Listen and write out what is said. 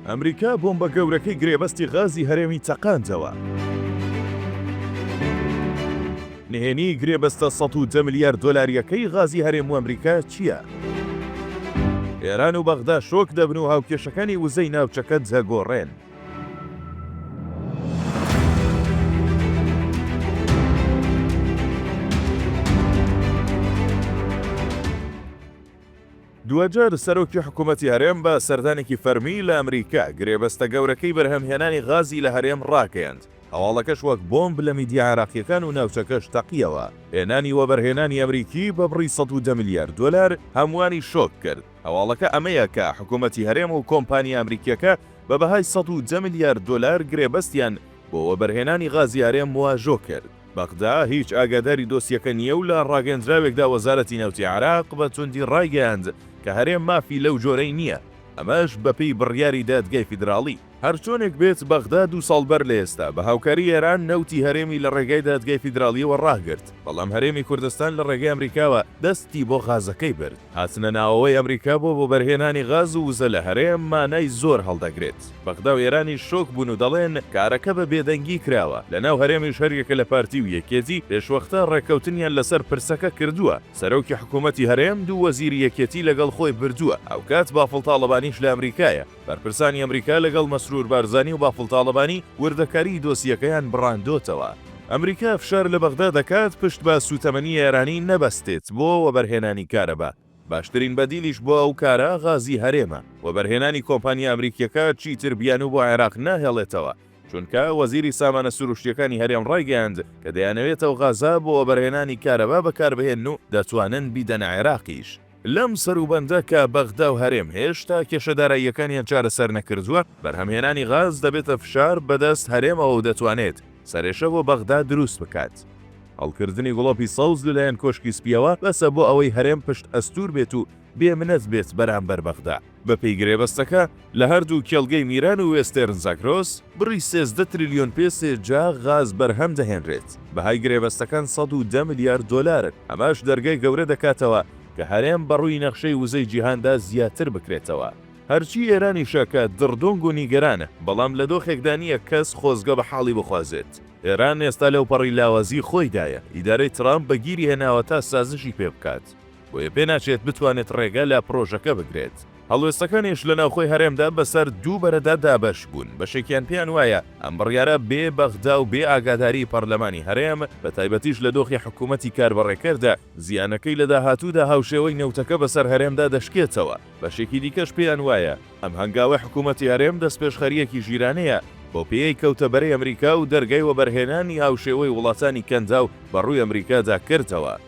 ئەمریکا بۆمبە گەورەکەی گرێبەستی غازی هەرێمی چەقاندەوە. نهێنیی گرێبەستە سەد و دە ملیار دۆلارییەکەی غازی هەرێم و ئەمریکا چییە؟ ئێران و بەغدا شۆک دەبن و هاوکێشەکانی وزەی ناوچەکە دەگۆڕێن. دوجار سەرۆکی حکوومەتی هەرێم بە سەردانێکی فەرمی لە ئەمریکا، گرێبەستە گەورەکەی بەرهەمهێنانی غازی لە هەرێم ڕاگەیاند، هەواڵەکەش وەک بۆمب لە میدیا عێراقییەکان و ناوچەکەش تەقییەوە، هێنانی وەبەرهێنانی ئەمریکی بە بڕی سەد و دە ملیار دۆلار هەمووانی شۆک کرد، هەواڵەکە ئەمەیە کە حکوومەتی هەرێم و کۆمپانیا ئەمریکییەکە بە بەهای سەد و دە ملیار دۆلار گرێبەستیان بۆ وەبەرهێنانی غازی هەرێم واژۆ کرد. بەغدا هیچ ئاگاداری دۆسیەکە نییە و لە ڕاگەندراوێکدا وەزارەتی نەوتی عێراق بە توندی ڕایگەیاند کە هەرێم مافی لەو جۆرەی نییە، ئەمەش بەپێی بڕیاری دادگای فیدراڵی. هەرچۆنێک بێت بەغدا دوو ساڵ بەر لە ئێستا بە هاوکاری ئێران نەوتی هەرێمی لە ڕێگای دادگای فیدراڵییەوە ڕاگرت، بەڵام هەرێمی کوردستان لە ڕێگەی ئەمریکاوە دەستی بۆ غازەکەی برد. هاتنە ناوەوەی ئەمریکا بۆ وەبەرهێنانی غاز و وزە لە هەرێم مانای زۆر هەڵدەگرێت، بەغدا و ئێرانیش شۆک بوون و دەڵێن کارەکە بە بێدەنگی کراوە، لە ناو هەرێمیش هەریەکە لە پارتی و یەکێتی پێشوەختە ڕێککەوتنیان لەسەر پرسەکە کردووە، سەرۆکی حکوومەتی هەرێم دوو وەزیری یەکێتی لەگەڵ خۆی بردووە، هاوکات بافڵ تاڵەبانیش لە ئەمریکایە. بەرپرسانی ئەمریکا لەگەڵ مەسرور بارزانی و بافڵ تاڵەبانی وردەکاریی دۆسیەکەیان بڕاندۆتەوە. ئەمریکا فشار لە بەغدا دەکات پشت بە سووتەمەنی ئێرانی نەبەستێت بۆ وەبەرهێنانی کارەبا، باشترین بەدیلیش بۆ ئەو کارە غازی هەرێمە، وەبەرهێنانی کۆمپانیا ئەمریکییەکە چیتر بیانوو بۆ عێراق ناهێڵێتەوە، چونکە وەزیری سامانە سرووشتییەکانی هەرێم ڕایگەیاند کە دەیانەوێت ئەو غازە بۆ وەبەرهێنانی کارەبا بەکاربهێنن و دەتوانن بیدەنە عێراقیش. لەم سەروبەندە کە بەغدا و هەرێم هێشتا کێشە داراییەکانیان چارەسەر نەکردووە، بەرهەمهێنانی غاز دەبێتە فشار بەدەست هەرێمەوە و دەتوانێت سەرێشە بۆ بەغدا دروست بکات. هەڵکردنی گڵۆپی سەوز لەلایەن کۆشکی سپییەوە بەسە بۆ ئەوەی هەرێم پشتئەستوور بێت و بێ منەت بێت بەرامبەر بەغدا. بەپێی گرێبەستەکە، لە هەردوو کێڵگەی میران و وێستێرن زاگرۆس، بڕی سێزدە ترلیۆن پێسێ جا غاز بەرهەم دەهێنرێت، بەهای گرێبەستەکان سەد و دە ملیار دۆلارن، ئەمەش دەرگای گەورە دەکاتەوە کە هەرێم بەڕووی نەخشەی وزەی جیهاندا زیاتر بکرێتەوە، هەرچی ئێرانیشە کە دڕدۆنگ و نیگەرانە، بەڵام لە دۆخێکدا نییە کەس خۆزگە بە حاڵی بخوازێت، ئێران ئێستا لەوپەڕی لاوازی خۆیدایە، ئیدارەی ترامپ بەگیری هێناوە تا سازشی پێبکات. بۆیە پێناچێت بتوانێت ڕێگە لە پڕۆژەکە بگرێت. هەڵوێستەکانیش لە ناوخۆی هەرێمدا بەسەر دوو بەرەدا دابەش بوون، بەشێکیان پێیان وایە ئەم بڕیارە بێ بەغدا و بێ ئاگاداریی پەرلەمانی هەرێم، بە تایبەتیش لە دۆخی حکوومەتی کاربەڕێکەردا، زیانەکەی لە داهاتوودا هاوشێوەی نەوتەکە بەسەر هەرێمدا دەشکێتەوە، بەشێکی دیکەش پێیان وایە ئەم هەنگاوەی حکوومەتی هەرێم دەستپێشخەرییەکی ژیرانەیە بۆ پێیەی کەوتە بەرەی ئەمریکا و دەرگای وەبەرهێنانی هاوشێوەی وڵاتانی کەنداو بە ڕووی ئەمریکادا کردەوە.